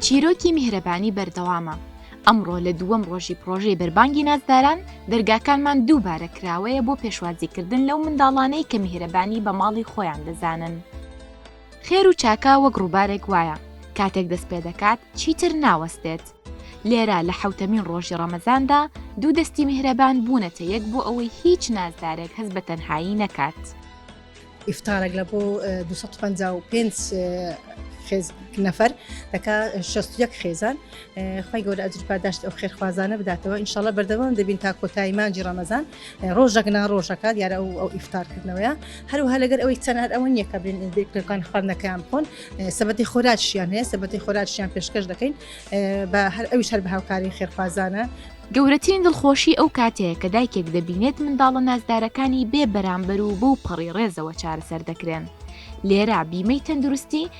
چیرۆکی میهرەبانی بەردەوامە ئەمڕۆ لە دووەم ڕۆژی پرۆژەی بەربانگی نازداران دەرگاکانمان دووبارە کراوەیە بۆ پێشوازیکردن لەو منداڵانەی کە میهرەبانی بە ماڵی خۆیان دەزانن. خێر و چاکە وەک ڕووبارێک وایە، کاتێک دەست پێ دەکات، چیتر ناوەستێت. لێرە لە حەوتەمین ڕۆژی ڕەمەزاندا، دوو دەستی میهرەبان بوونەتە یەک بۆ ئەوەی هیچ نازدارێک هەست بە تەنهایی نەکات. ئیفتارێک لە بۆ 255 نەفەر دەکا 61 خێزان خی گەورە ئەجر پاداشت ئەو خێرخوازانە بداتەوە ئینشاالله بەردەوام دەبین تا کۆتایی مانجی ڕەمەزان ڕۆژەک نا ڕۆژەکە دیارە ئەو ئەو ئیفتارکردنەوەیە هەروها لەگەر ئەوەی تەنار ئەوە نییە کە بێن بێکەکان خواردنەکەیان بخۆن سەبەتی خۆراکشیان هەیە سەبەتی خۆراکشیان پێشکەش دەکەین بە هەر ئەوش هەر بە هاوکاری خێرخوازانە گەورەترین دڵخۆشی ئەو کاتەیە کە دایکێک دەبینێت منداڵە نازدارەکانی بێ بەرامبەر و بەو پەڕی ڕێزەوە چارەسەر دەکرێن. لێرە بیمەی تەندروستی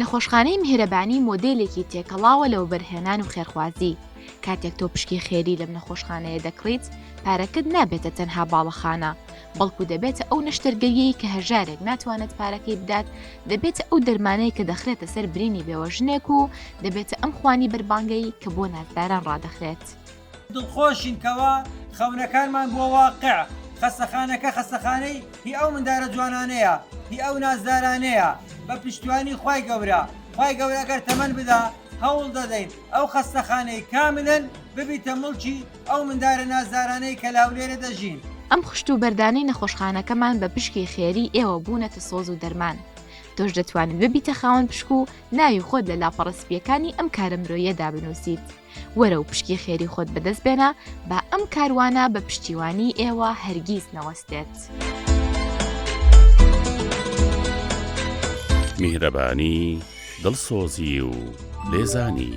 نەخۆشخانەی میهرەبانی مۆدێلێکی تێکەڵاوە لە وەبەرهێنان و خێرخوازی کاتێک تۆ پشکی خێری لەم نەخۆشخانەیە دەکڕیت پارەکەت نابێتە تەنها باڵەخانە بەڵکو دەبێتە ئەو نەشتەرگەریەی کە هەژارێک ناتوانێت پارەکەی بدات دەبێتە ئەو دەرمانەیە کە دەخرێتە سەر برینی بێوەژنێک و دەبێتە ئەم خوانی بەربانگەی کە بۆ نازداران ڕادەخرێت. دڵخۆشین کەوا خەونەکانمان بووە واقع، خەستەخانەکە خەستەخانەی هی ئەو مندارە جوانانەیە هی ئەو نازدارانەیە بە پشتیوانی خوای گەورە خوای گەورە ئەگەر تەمەن بدا هەوڵ دەدەین ئەو خەستەخانەی کاملەن ببیتە مڵکی ئەو مندارە نازدارانەی کە لاولێرە دەژین. ئەم خشت و بەردانەی نەخۆشخانەکەمان بە پشکی خێری ئێوە بوونەتە سۆز و دەرمان تۆش دەتوانیت ببیتە خاوەن پشک و ناوی خۆت لە لاپەڕە سپییەکانی ئەم کارە مرۆیەدا بنووسیت. وەرە و پشکی خێری خۆت بەدەست بێنە با ئەم کاروانە بە پشتیوانی ئێوە هەرگیز نەوەستێت. میهرەبانی دڵسۆزی و لێزانی.